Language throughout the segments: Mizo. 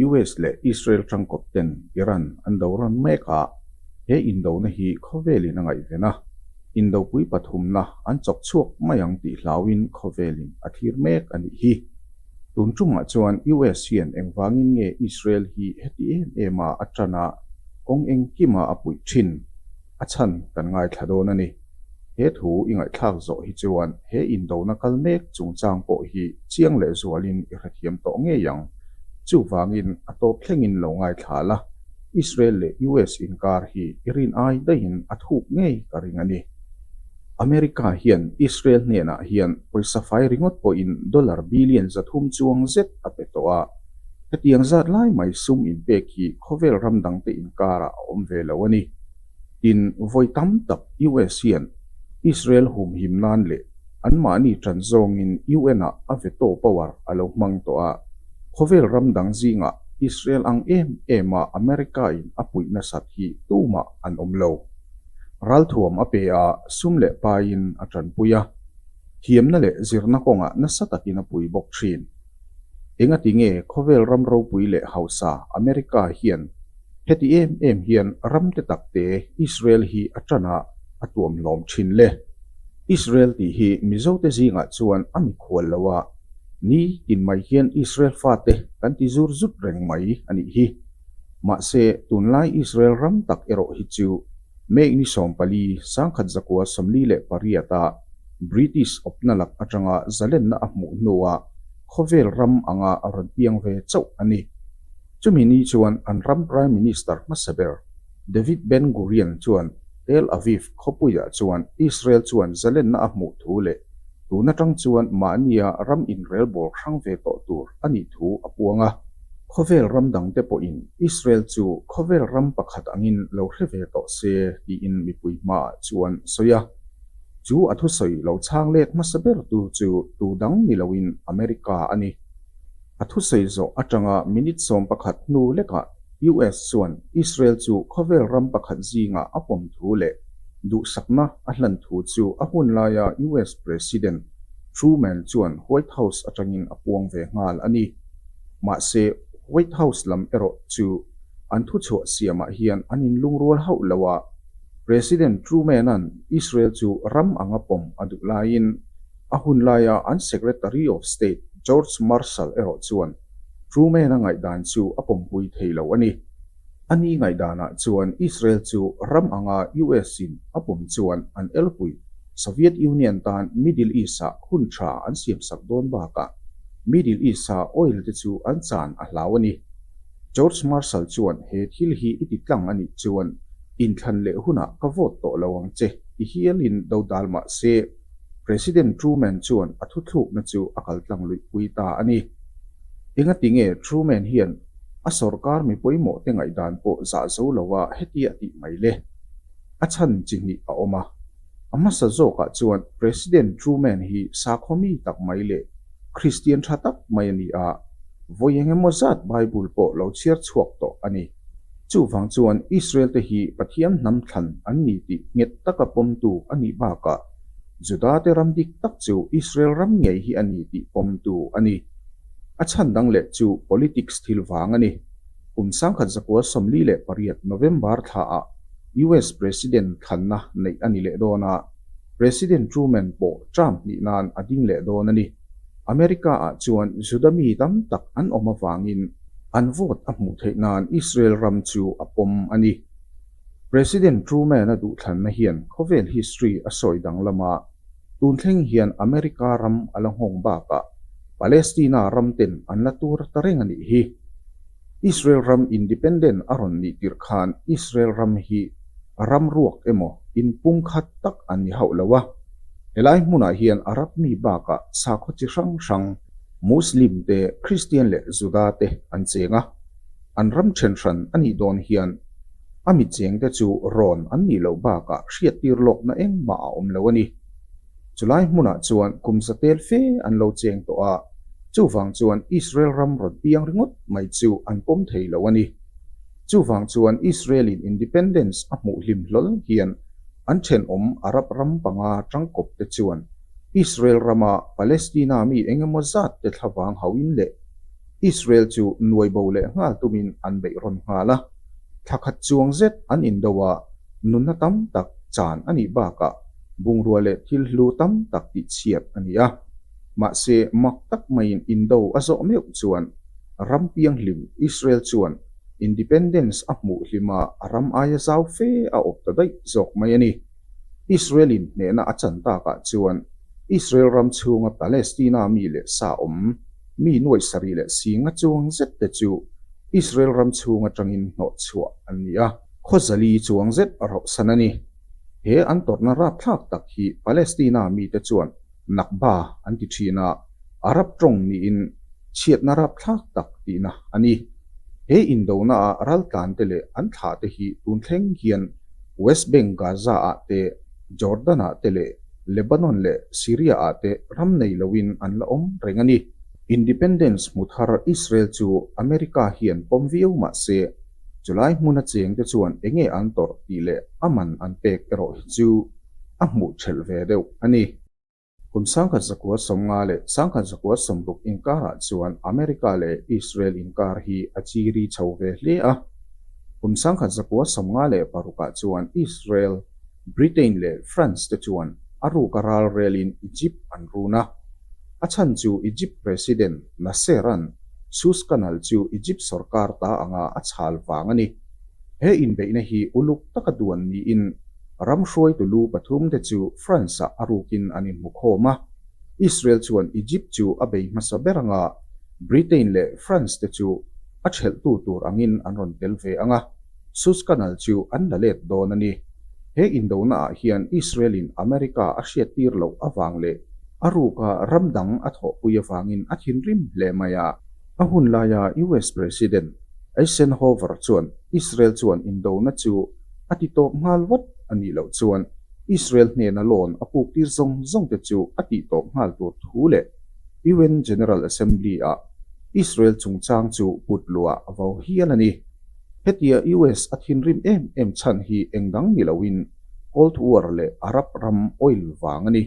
US leh Israel tangkawp ten Iran an do rawn mek a, he indona hi khawvelin a ngaihven a, indopui pathumna an chawk chhuak mai ang tih hlauin khawvelin a thlir mek a nih hi. Tun chungah chuan US hian engvangin nge Israel hi heti em ema a tana kawng eng kima a puih thin? A chhan kan ngaithla dawn a ni. He thu i ngaihthlak zawh hi chuan he indona kal mek chungchang pawh hi chiang lehzualin i hrethiam tawh ngei ang. Chuvangin a tawp thlengin lo ngaithla la, Israel leh US inkar hi i rin ai daihin a thuk ngei ka ring a ni. America hian Israel hnenah hian pawisa fai ringawt pawhin dollar billion zathum chuang zet a pe tawh a. Hetiang zat lai mai sum inpek hi khawvel ram dangte inkarah a awm ve lo a ni. Tin, vawi tam tak US hian Israel humhim nan leh anmahni tan zawngin UN-ah a veto power a lo hmang tawh a. Khawvel ram dang zingah Israel ang em ema America-in a puih nasat hi tumah an awm lo. Ralthuam a pe a, sum leh paiin a tanpui a, thiamna leh zirna kawngah nasa takin a pui bawk thin. Engati nge khawvel ram ropui leh hausa America hian heti em em hian ramte takte Israel hi a tanah a tuam hlawm thin le? Israel tih hi Mizote zingah chuan a mikhual lo a ni, tin mai hian Israel fate kan ti zur zut reng mai a nih hi. Mahse, tunlai Israel ram tak erawh hi chu May ni sawmpali sangkhat zakua sawmli leh pariata British awpna lak atanga zalenna a hmuh hnuah khawvel ram anga a rawn piang ve chauh a ni. Chumi ni chuan an ram Prime Minister hmasa ber David Ben Gurion chuan Tel Aviv khawpuiah chuan Israel chuan zalenna a hmuh thu leh tun atang chuan mahnia ram inrelbawlhrang ve tawh tur a nih thu a puang a. Khawvel ram dangte pawhin Israel chu khawvel ram pakhat angin lo hre ve tawh se tiin mipui hmaah chuan sawi a. Chu a thusawi lo chhang lek hmasa bertu chu tu dang ni loin America a ni. A thusawi zawh atanga minute sawm pakhat hnu lekah US chuan Israel chu khawvel ram pakhat zingah a pawm thu leh duhsakna a hlan thu chu a hun laia US President Truman chuan White House atangin a puang ve nghal a ni. Mahse, White House lam erawh chu an thu chhuah siamah hian an in lungrual hauh lo a. President Truman-a'n Israel chu ram anga pawm a duh laiin a hun laia an Secretary of State George Marshall erawh chuan Truman-a ngaihdan chu a pawmpui thei lo a ni. A ni ngaihdanah chuan Israel chu ram anga US in a pawm chuan an elpui. Soviet Union tan Middle East-ah hun tha an siamsak dawn bakah Middle East-a oil te chu an chan a hlau a ni. George Marshall chuan he thil hi i ti tlang a nih chuan inthlan leh hunah ka vote tawh lo ang che ti hialin dodal mah se. President Truman chuan a thuthlukna chu a kaltlang luihpui ta a ni. Engati nge Truman hian a sorkar mi pawimawhte ngaihdan pawh zah zo lo a heti a tih mai le? A chhan chi hnih a awm a. A hmasa zawkah chuan President Truman hi sakhaw-mi tak mai leh Kristian tha tak mai a ni a, vawi engemaw zat Bible pawh lo chhiar chhuak tawh a ni. Chuvang chuan Israelte hi Pathian hnam thlan an ni tih nghet taka pawmtu a nih bakah Judate ram dik tak chu Israel ram ngei hi a ni tih pawmtu a ni. A chhan dang leh chu politics thil vang a ni. Kum sangkhat zakua sawmli leh pariat November thla ah US President thlanna neih a ni leh dawn a, President Truman pawh Trump hnih nan a ding leh dawn a ni. America ah chuan Juda mi tam tak an awm avangin an vote a hmuh theih nan Israel ram chu a pawm a ni. President Truman a duhthlanna hian khawvel history a sawi danglam a, tun thleng hian America ram a la nghawng bakah Palestina ram ten an la tur ta reng a nih hi. Israel ram independent a rawn nih tirh khan Israel ram hi ram ruak emaw in pumkhat tak a ni hauh lo a, helai hmunah hian Arab mi bakah sakhaw chi hrang hrang, Muslim te, Kristian leh Juda te an cheng a, an ram then hran a nih dawn hian a mitchengte chu rawn an nih loh bakah hriattir lawkna engmah a awm lo a ni. Chulai hmunah chuan kum zatel fe an lo cheng tawh a, chuvang chuan Israel ram rawn piang ringawt mai chu an pawm thei lo a ni. Chuvang chuan Israel-in independence a hmuh hlim hlawl hian an thenawm Arab ram panga tangkawpte chuan Israel rama Palestina mi eng emaw zat te thlavang hauhin leh Israel chu nuaibo leh nghal tumin an beih rawn nghal a, thlakhat chuang zet an indo a nunna tam tak chan a nih bakah. Bungrua leh thil hlu tam tak tih chhiat a ni a, mahse mak tak maiin indo a zawh meuh chuan ram pianghlim Israel chuan independence a hmuh hlima a ram aia zau fe a awp ta daih zawk mai a ni. Israel in hnehna a chan tak ah chuan Israel ram chhunga Palestina mi leh sa awm mi nuaih sarih leh singa chuang zet te chu Israel ram chhung atangin hnawh chhuah an ni a, khawzali chuang zet a rauhsan a ni. He an tawrhna rapthlak tak hi Palestina mite chuan Nakba an ti thin a, Arab tawng niin chhiatna rapthlak tak tihna a ni. He indona a raltlante leh an thlahte hi tun thleng hian West Bank Gaza-ah te, Jordan-ah te leh Lebanon leh Syria-ah te ram nei loin an la awm reng a ni. Independence hmu thar Israel chu America hian pawm viau mah se, Chulai hmuna chengte chuan eng nge an tawrh tih leh a man an pek erawh hi chu a hmuh ṭhelh ve deuh a ni. Kum sangkhat zakua sawmnga leh sangkhat zakua sawmruk inkarah chuan America leh Israel inkar hi a chi ri chho ve hle a. Kum sangkhat zakua sawmnga leh parukah chuan Israel, Britain leh France te chuan a ruk a ral relin Egypt an run a. A chhan chu Egypt President Nasseran Suez Canal chu Egypt sorkar ta anga a chhal vang a ni. He inbeihna hi uluk taka duan niin ram hruaitu lu pathum te chu France-ah a rukin an inhmukhawm a. Israel chuan Egypt chu a bei hmasa ber anga Britain leh France te chu a ṭhelhtu tur angin an rawn tel ve ang a. Sus ka nal chu an la let dawn a ni. He indona ah hian Israel-in America a hriattir loh avang leh a ruka ram dang a thawhpui avangin a thinrim hle mai a. A hun laia US President Eisenhower chuan Israel chuan indona chu a ti tawp nghal vat a nih loh chuan Israel hnena lawn a puktir zawng zawng te chu a tih tawp nghal tur thu leh UN General Assembly ah Israel chungchang chu put luah a vo hial a ni. Hetia US a thinrim em em chhan hi eng dang ni loin Cold War leh Arab ram oil vang a ni.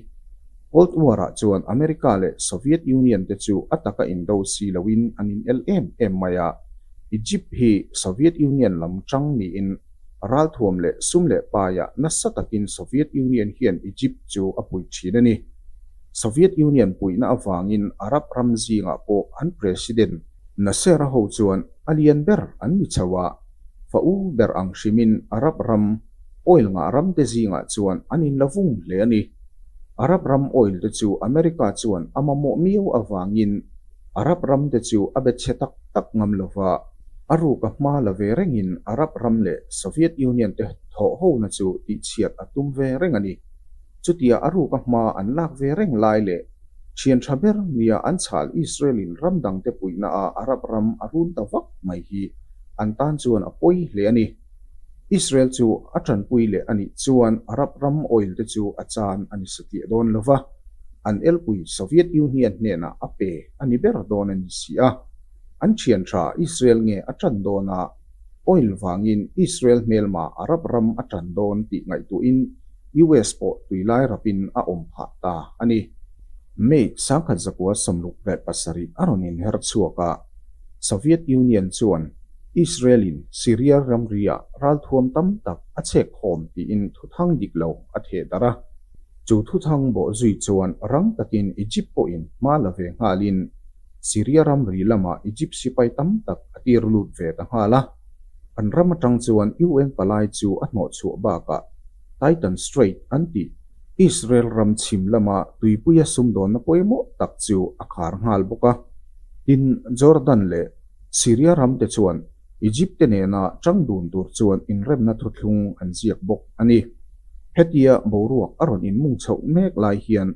Cold War ah chuan America leh Soviet Union te chu a taka in do si loin an in el em em mai a. Egypt hi Soviet Union lam chang niin ralthuam leh sum leh paia nasa takin Soviet Union hian Egypt chu a puih thin a ni. Soviet Union puihna avangin Arab ram zingah pawh an president Nasser ho chuan A lian ber an ni chho a, fa u ber ang hrimin Arab ram oil ngah ram te zingah chuan an in la vung hle a ni. Arab ram oil te chu America chuan a mamawh miau avangin Arab ram te chu a be chhe tak tak ngam lo va, a ruk a hma la ve rengin Arab ram leh Soviet Union te thawh hona chu tihchhiat a tum ve reng a ni. Chutia a ruka hma an lak ve reng lai leh thian tha ber nia an chhal Israelin ram dangte puihnaah Arab ram a run ta vak mai hi an tan chuan a pawi hle a ni. Israel chu a tanpui leh a nih chuan Arab ram oil te chu a chan a ni sa tih a dawn lo va, an elpui Soviet Union hnenah a pe a ni ber dawn a ni si a, an thian tha Israel nge a tan dawn a, Oil vangin Israel hmelmah Arab ram a tan dawn tih ngaihtuahin US pawh tui lai rapin a awm phah ta a ni. May sangkhat zakua sawmluk leh pasarih a rawn inher chhuak a, Soviet Union chuan Israel-in Syria ramriah ralthuam tam tak a chhek khawm tiin thuthang dik lo a theh darh a. Chu thuthang bawh zui chuan rang takin Egypt pawhin hma la ve nghalin Syria ramri lamah Egypt sipai tam tak a tir lut ve ta nghal a, an ram atang chuan UN palai chu a hnawh chhuah bakah Titan Strait an tih Israel ram chhim lama tuipuia sumdawnna pawimawh tak chu a khar nghal bawk a. Tin, Jordan leh Syria ramte chuan Egypt-te nena ṭang dun tur chuan inremna thuthlung an ziak bawk a ni. Hetia boruak a rawn inmung chhoh mek lai hian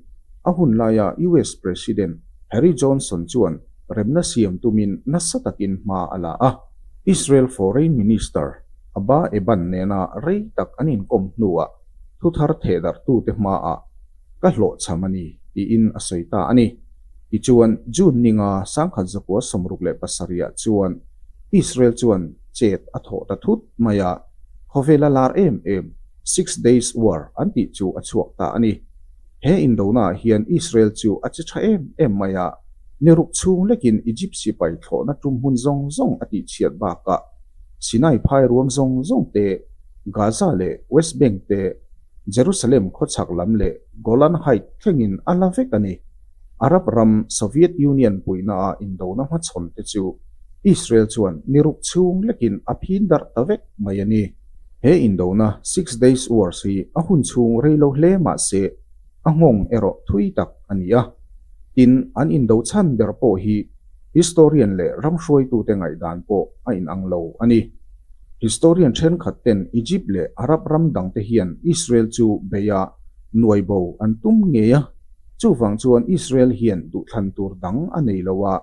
a hun laia US President Harry Johnson chuan remna siam tumin nasa takin hma a la a. Israel Foreign Minister Abba Eban nena rei tak an inkawm hnuah thuthar thehdarhtute hmaah ka hlawhchham a ni, tiin a sawi ta a ni. Tichuan, June ninga sangkhat zakua sawmruk leh pasarihah chuan Israel chuan chet a thawh ta thut mai a, khawvel a lar em em, Six Days War an tih chu a chhuak ta a ni. He indonaah hian Israel chu a che tha em em mai a, ni ruk chhung lekin Egypt sipai thlawhna tum hmun zawng zawng a tihchhiat bakah Sinai phairuam zawng zawng te, Gaza leh West Bank te, Jerusalem khawchhak lam leh Golan Heights thlengin a la vek a ni. Arab ram Soviet Union puihnaah indona hmachhawnte chu Israel chuan ni ruk chhung lekin a phin darh ta vek mai a ni. He indona Six Days Wars hi a hun chhung rei lo hle mahse, a nghawng erawh thui tak a ni a. Tin, an indo chhan ber pawh hi Historian leh ramhruaitute ngaihdan pawh a inang lo a ni. Historian thenkhat ten Egypt leh Arab ram dangte hian Israel chu beiah nuaibo an tum ngei a, chuvang chuan Israel hian duhthlan tur dang a nei lo a,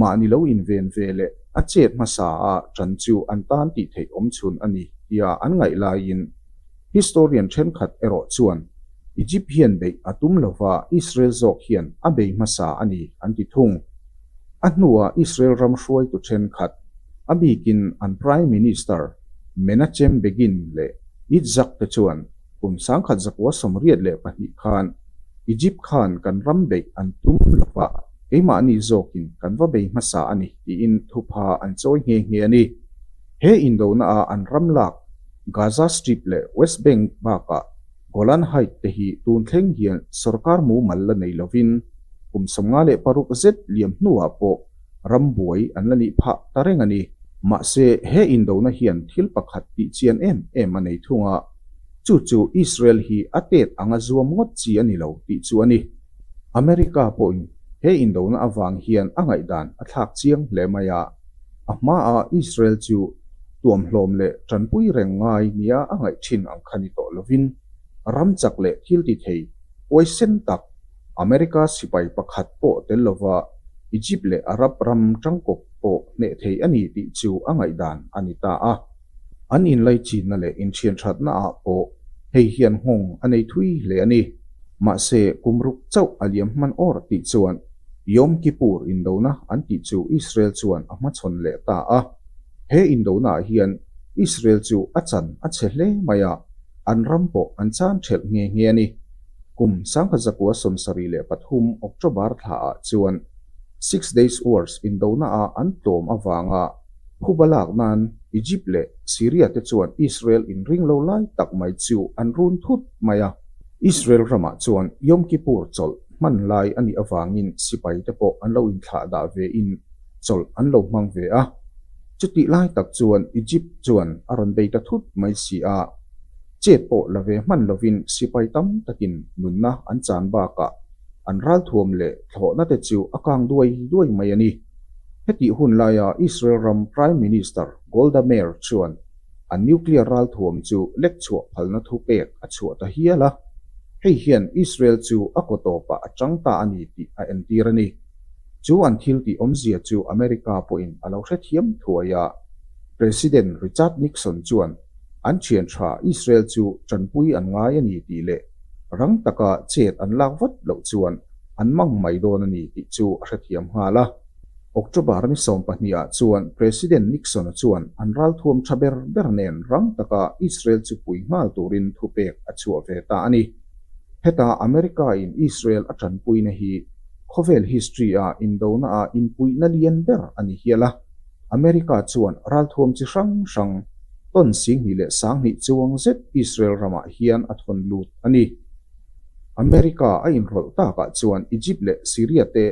mahni lo inven ve leh a chet hmasa a ṭan chu an tan tih theih awm chhun a ni tia an ngaih laiin Historian thenkhat erawh chuan Egypt hian beih a tum lova Israel zawk hian a bei hmasa a ni an ti thung. A hnua Israel ram hruaitu thenkhat a bikin an Prime Minister Menachem Begin leh Itzhak te chuan kum sangkhat zakua sawmriat leh pahnih khan Egypt khan kan ram beih an tum lova keimahni zawkin kan va bei hmasa a ni tiin thupha an chawi nghe nghe a ni. He indohna a an ram lak Gaza Strip leh West Bank bakah Golan Height te hi tun thleng hian sorkar mumal la nei lovin kum sawmnga leh paruk zet liam hnuah pawh ram buai an la nih phah ta reng a ni. Mahse, he indohna hian thil pakhat tih chian em em a nei thung a, chu chu Israel hi a tet anga zuam ngawt chi a ni lo tih chu a ni. America pawhin he indohna avang hian a ngaihdan a thlak chiang hle mai a. A hmaah Israel chu tuamhlawm leh tanpui reng ngai nia a ngaih thin ang kha ni tawh lovin, ram chak leh thiltithei huaisen tak America sipai pakhat pawh tel lova Egypt leh Arab ram tangkawp pawh hneh thei a ni tih chu a ngaihdan a ni ta a. An inlaichitna leh inthianthatnaah pawh hei hian nghawng a nei thui hle a ni. Mahse, kum ruk chauh a liam hman awr tih chuan Yom Kippur indona an tih chu Israel chuan a hmachhawn leh ta a. He indonaah hian Israel chu a chan a chhe hle mai a, an ram pawh an chan ṭhelh nghe nghe a ni. Kum sangha zakua sawmsarih leh pathum October thlaah chuan Six Days Wars indonaah an tlawm avanga, Khup a lak nan Egypt leh Syria te chuan Israel in ring lo lai tak mai chu an run thut mai a. Israel ramah chuan Yom Kippur chawlh hman lai a nih avangin sipai te pawh an lo inthlah dah ve in chawlh an lo hmang ve a. Chu tih lai tak chuan Egypt chuan a rawn dei ta thut mai si a. Chet pawh la ve hman lovin sipai tam takin nunna an chan bakah an ral thuam leh thlawhna te chu a kang duai duai mai a ni. Hetih hun laia Israel ram Prime Minister Golda Meir chuan a nuclear ralthuam chu lekchhuah phalna thupek a chhuah ta hial a, hei hian Israel chu a kaw tawpah a chang ta a ni tih a entir a ni. Chu an thiltih awmzia chu America pawhin a lo hrethiam thuai a. President Richard Nixon chuan an thian tha Israel chu tanpui an ngai a ni tih leh rang taka chet an lak vat loh chuan an mang mai dawn a ni tih chu a hrethiam nghal a. October ni sawm pahniha chuan President Nixon-a chuan an ralthuam tha ber ber nen rang taka Israel chu pui nghal turin thupek a chhuah ve ta a ni. Heta America-in Israel a tanpuina hi khawvel history-a indona-a inpuihna lian ber a ni hial a, America chuan ralthuam chi hrang hrang tawn singhnih leh sanghnih chuang zet Israel ramah hian a thawn lut a ni. America a inhrawlh takah chuan Egypt leh Syria te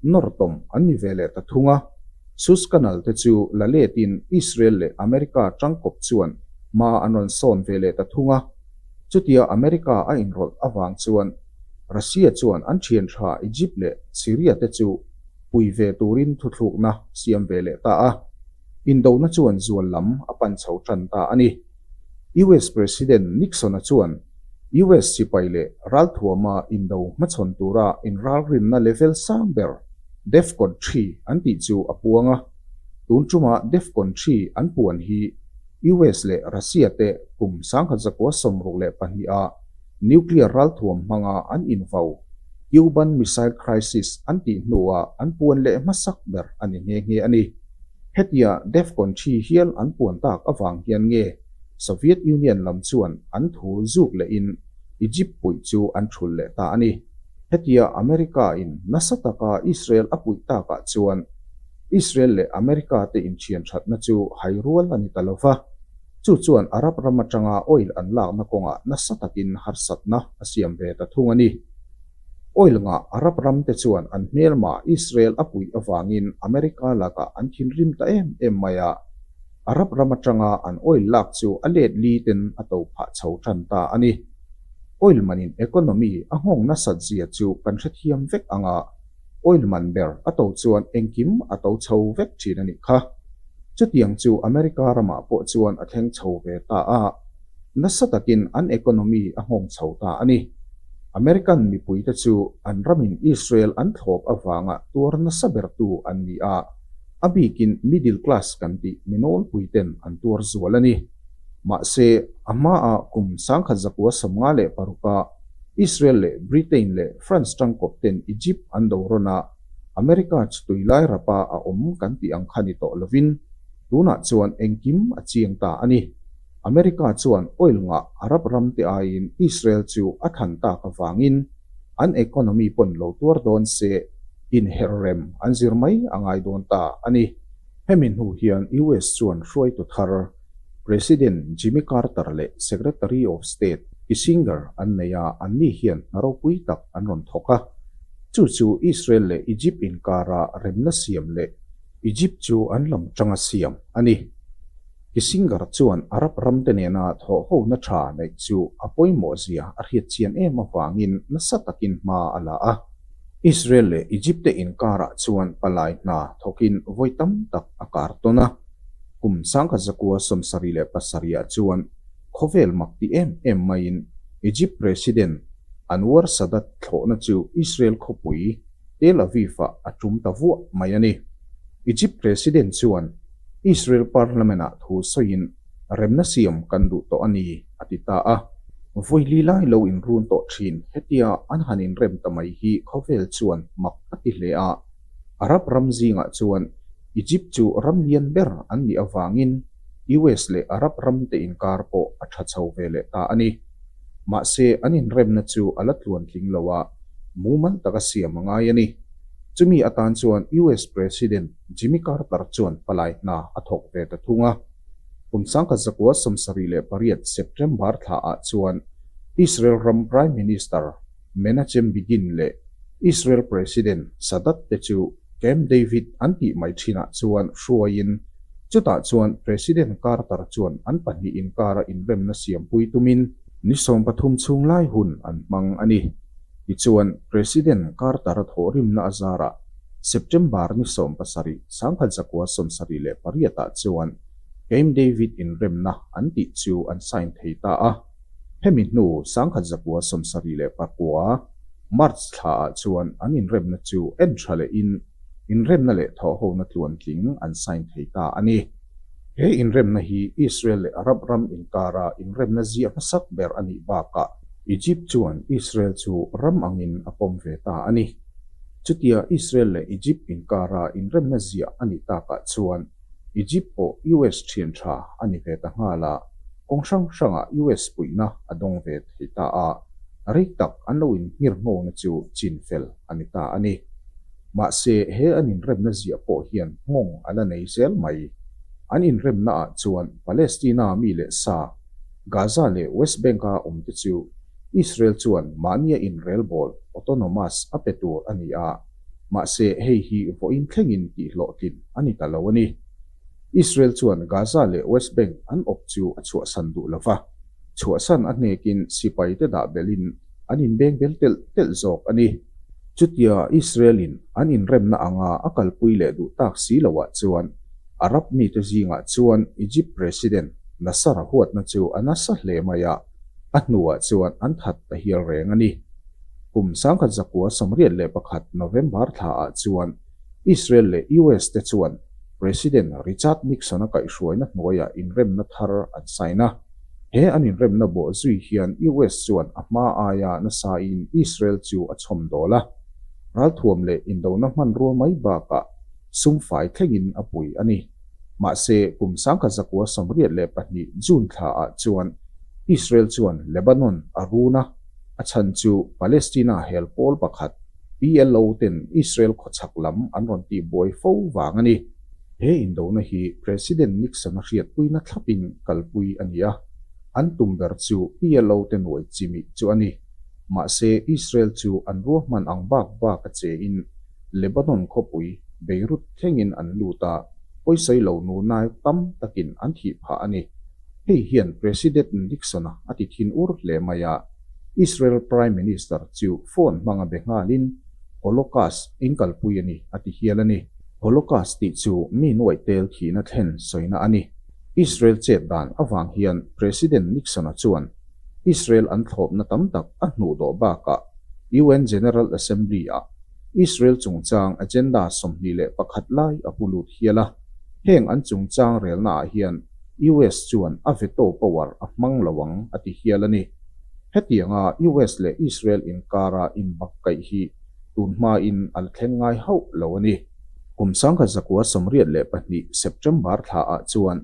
nawrtawm an ni ve leh ta thung a, Suez Canal te chu la letin Israel leh America tangkawp chuan hma an rawn sawn ve leh ta thung a, chutia America a inrawlh avang chuan Russia chuan an thian tha Egypt leh Syria te chu pui ve turin thuthlukna siam ve leh ta a. Indohna chuan zual lam a pan chho ṭan ta a ni. US President Nixon-a chuan US sipai leh ralthuama indo hmachhawn tura inralrinna level sang ber, Defcon Three, an tih chu a puang a. Tun ṭuma Defcon Three an puan hi US leh Russia-te kum sangkhat zakua sawmruk leh pahniha Nuclear ralthuam hmanga an invau, Cuban Missile Crisis an tih hnua an puan leh hmasak ber a ni nghe nghe a ni. Hetia Defcon thi hial an puan tak avang hian nge Soviet Union lam chuan an thu zuk leh in Egypt puih chu an thul leh ta a ni. Hetia America in nasa taka Israel a puih tak ah chuan Israel leh America te in thianthatna chu hai rual a ni ta lo va. Chu chuan Arab ram atanga oil an lakna kawngah nasa takin harsatna a siam ve ta thung a ni. Oil ngah Arab ramte chuan an hmelmah Israel a puih avangin America lakah an thinrim ta em em mai a, Arab ram atanga an oil lak chu a let li ten a to phah chho tan ta a ni. Oil manin economy a nghawng nasat zia chu kan hrethiam vek ang a. oil man ber a to chuan engkim a to chho vek thin a nih kha. Chutiang chu America ramah pawh chuan a thleng chho ve ta a, nasa takin an economy a nghawng chho ta a ni. American mipuite chu an ramin Israel an thlawp avangah tuar nasa bertu an ni a, a bikin middle class kan tih minawl puiten an tuar zual a ni. Mahse, a hmaah kum sangkhat zakua sawmnga leh paruk a, Israel leh Britain leh France tangkawp ten Egypt an lo rawn a, America chu tui lai rapa a awm kan tih ang kha ni tawh lovin, tunah chuan engkim a chiang ta a ni. America chuan oil ngah Arab ram te aiin Israel chu a than tak avangin an economy pawn lo tuar dawn se inherh rem an zir mai a ngai dawn ta a ni. Hemi hnu hian US chuan hruaitu thar President Jimmy Carter leh Secretary of State Kissinger an nei a, anni hian hna ropui tak an rawn thawk a. Chu chu Israel leh Egypt inkara remna siam leh Egypt chu an lam tanga siam a ni. Kissinger chuan Arab ramte nena thawhhona tha neih chu a pawimawhzia a hriatchian em avangin nasa takin hma a la a. Israel leh Egypt-te inkarah chuan palai hna thawkin vawi tam tak a kar tawn a. Kum sangkhat zakua sawmsarih leh pasarihah chuan khawvel mak ti em em maiin Egypt President Anwar Sadat thlawhna chu Israel khawpui Tel Aviv-ah a tum ta vuah mai a ni. Egypt President chuan Israel Parliament-ah thu sawiin remna siam kan duh tawh a ni, a ti ta a. Vawilih lai lo inrun tawh thin, hetia an han inrem ta mai hi khawvel chuan mak a ti hle a. A rap ram zingah chuan Egypt chu ram lian ber an nih avangin US leh Arab ramte inkar pawh a tha chho ve leh ta a ni. Mahse an inremna chu a la tluan tling lo a, mumal taka siam a ngai a ni. Chumi atan chuan US President Jimmy Carter chuan palai hna a thawk ve ta thung a. Kum sangkhat zakua sawmsarih leh pariat September thla ah chuan Israel ram Prime Minister, Menachem Begin leh Israel President Sadat te chu Camp David an tih mai thinah chuan hruaiin, chutah chuan President Carter chuan an pahnih inkara inremna siampui tumin, ni sawm pathum chhung lai hun an hmang a ni, tichuan, President Carter thawhrimna a zarah September ni sawm pasarih sangkhat zakua sawm sarih leh pariatah chuan Camp David inremna an tih chu an sign thei ta a. Hemi hnu Sangkhat Zakua Sawmsarih leh Pakua, March, thla ah chuan an inremna chu en tha leh in inremna leh thawhhona tluan tling an sign thei ta a ni. He inremna hi Israel leh Arab ram inkara inremna ziah hmasak ber a nih bakah, Egypt chuan Israel chu ram angin a pawm ve ta a ni. Chutia Israel leh Egypt inkara inremna ziah a nih takah chuan, Egypt pawh US thian tha a ni ve ta nghal a, kawng hrang hranga US puihna a dawng ve thei ta a, rei tak an lo in nghir nghawna chu chin fel a ni ta a ni. Mahse he an inremna ziah pawh hian nghawng a la nei zel mai. An inremna ah chuan Palestina mi leh sa, Gaza leh West Bank a awm te chu Israel chuan mahnia inrelbawl, autonomous, a pe tur a ni a, Mahse, hei hi vawiin thlengin tih hlawhtlinh a ni ta lo a ni. Israel chuan Gaza leh West Bank an awp chu a chhuahsan duh lo va, chhuahsan a hnekin sipaite dah belhin an inbengbel telh telh zawk a ni. Chutia Israel-in an inremna anga a kalpui leh duh tak si lohah chuan Arab mite zingah chuan Egypt President Nasser-a huatna chu a nasa hle mai a. A hnuah chuan an that ta hial reng a ni. Kum sangkhat zakua sawmriat leh pakhat November thlaah chuan Israel leh US te chuan President Richard Nixon-a kaihhruaina hnuaiah inremna thar an sign a. He an inremna bawh zui hian US chuan a hma aia nasain Israel chu a chhawmdawl a. Ralthuam leh indona hmanrua mai bakah sum fai thlengin a pui a ni. Mahse, kum sangka zakua sawmriat leh pahnih June thla ah chuan Israel chuan Lebanon a run a, a chhan chu Palestina hel pawl pakhat, PLO, ten Israel khawchhak lam an rawn tih buai fo vang a ni. He indona hi President Nixon a hriatpuina thlap in kalpui a ni a, an tum ber chu PLO te nuai chimih chu a ni. Mahse, Israel chu an ruahman ang bak bak a che in Lebanon khawpui Beirut thlengin an lut a, pawisawi lo nunai tam takin an thih phah a ni. Hei hian President Nixon-a a ti thin ur hle mai a, Israel Prime Minister chu phone hmang a be nghalin, Holocaust eng kalpui a ni a ti hial a ni. Holocaust tih chu mi nuaih tel thihna thlen sawina a ni. Israel chet dan avang hian President Nixon-a chuan Israel an thlawpna tam tak a hnuh dawh bakah UN General Assembly-ah Israel chungchang agenda sawmhnih leh pakhat lai a pu lut hial a, heng an chungchang relnaah hian US chuan a veto power a hmang lo ang a ti hial a ni. Hetianga US leh Israel inkara inbak kaih hi tun hmain a la thleng ngai hauh lo a ni. Kum sangha zakua sawmriat leh pahnih September thlaah chuan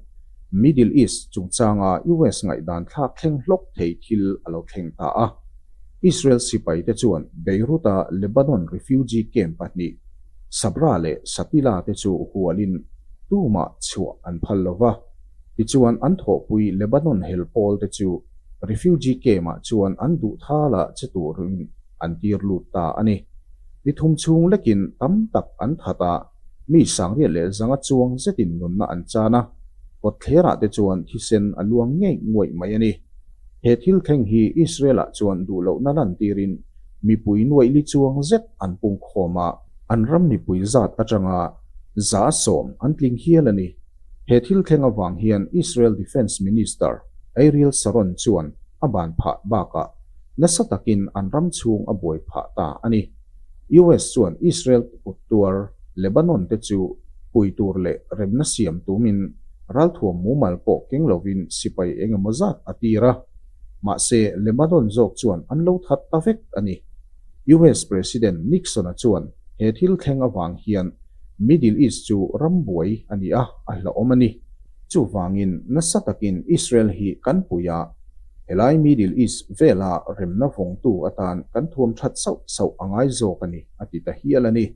Middle East chungchanga US ngaihdan thlak thleng hlawk thei thil a lo thleng ta a. Israel sipaite chuan Beirut-a Lebanon refugee camp pahnih, Sabra leh Shatila te chu hualin tumah chhuah an phal lo va. Tichuan an thawhpui Lebanon hel pawl te chu refugee camp-ah chuan an duhthala che turin an tir lut ta a ni. Ni thum chhung lekin tam tak an that a. Mi sangria leh zanga chuang zetin nunna an chan a, kawtthlerah te chuan thisen a luang ngeih nguaih mai a ni. He thil thleng hi Israel-ah chuan duh loh na lantirin mipui nuaihli chuang zet an pungkhawm a, an ram mipui zat atanga za sawm an tling hial a ni. He thil thleng avang hian Israel Defence Minister Ariel Sharon chuan a ban phah bakah nasa takin an ram chhung a buai phah ta a ni. US chuan Israel kut tuar Lebanon te chu pui tur leh remna siam tumin ralthuam mumal pawh keng lovin sipai eng emaw zat a tir a. Mahse, Lebanon zawk chuan an lo that ta vek a ni. US President Nixon-a chuan he thil thleng avang hian Middle East chu ram buai a nih a, a hlauhawm a ni. Chuvangin, nasa takin Israel hi kan puia helai Middle East vela remna vawngtu atan kan thuam that sauh sauh a ngai zawk a ni, a ti ta hial a ni.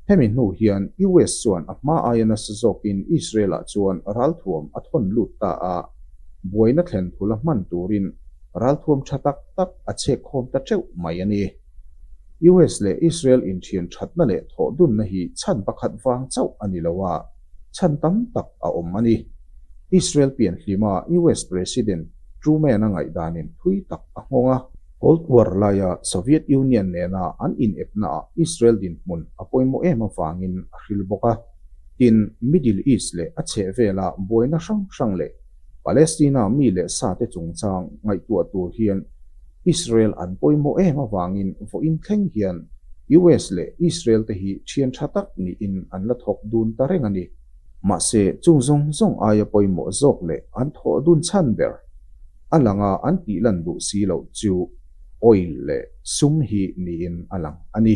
Hemi hnu hian US chuan a hma aia nasa zawkin Israel-ah chuan ralthuam a thawn lut ta a, buaina thlen thul a hman turin ralthuam tha tak tak a chhekkhawm ta teuh mai a ni. US leh Israel inthian thatna leh thawhdunna hi chhan pakhat vang chauh a ni lo a, chhan tam tak a awm a ni. Israel pianhlima US President Truman-a ngaihdanin thui tak a nghawng a. Cold War laia Soviet Union nena an inepnaah Israel dinhmun a pawimawh em avangin a hril bawk a. Tin, Middle East leh a chhehvela buaina hrang hrang leh Palestina mi leh sate chungchang ngaihtuah tur hian Israel an pawimawh em avangin vawiin thleng hian US leh Israel te hi thian tha tak niin an la thawk dun ta reng a ni. Mahse, chung zawng zawng aia pawimawh zawk leh an thawh dun chhan ber a lang a, an tih lan duh si loh chu oil leh sum hi niin a lang a ni.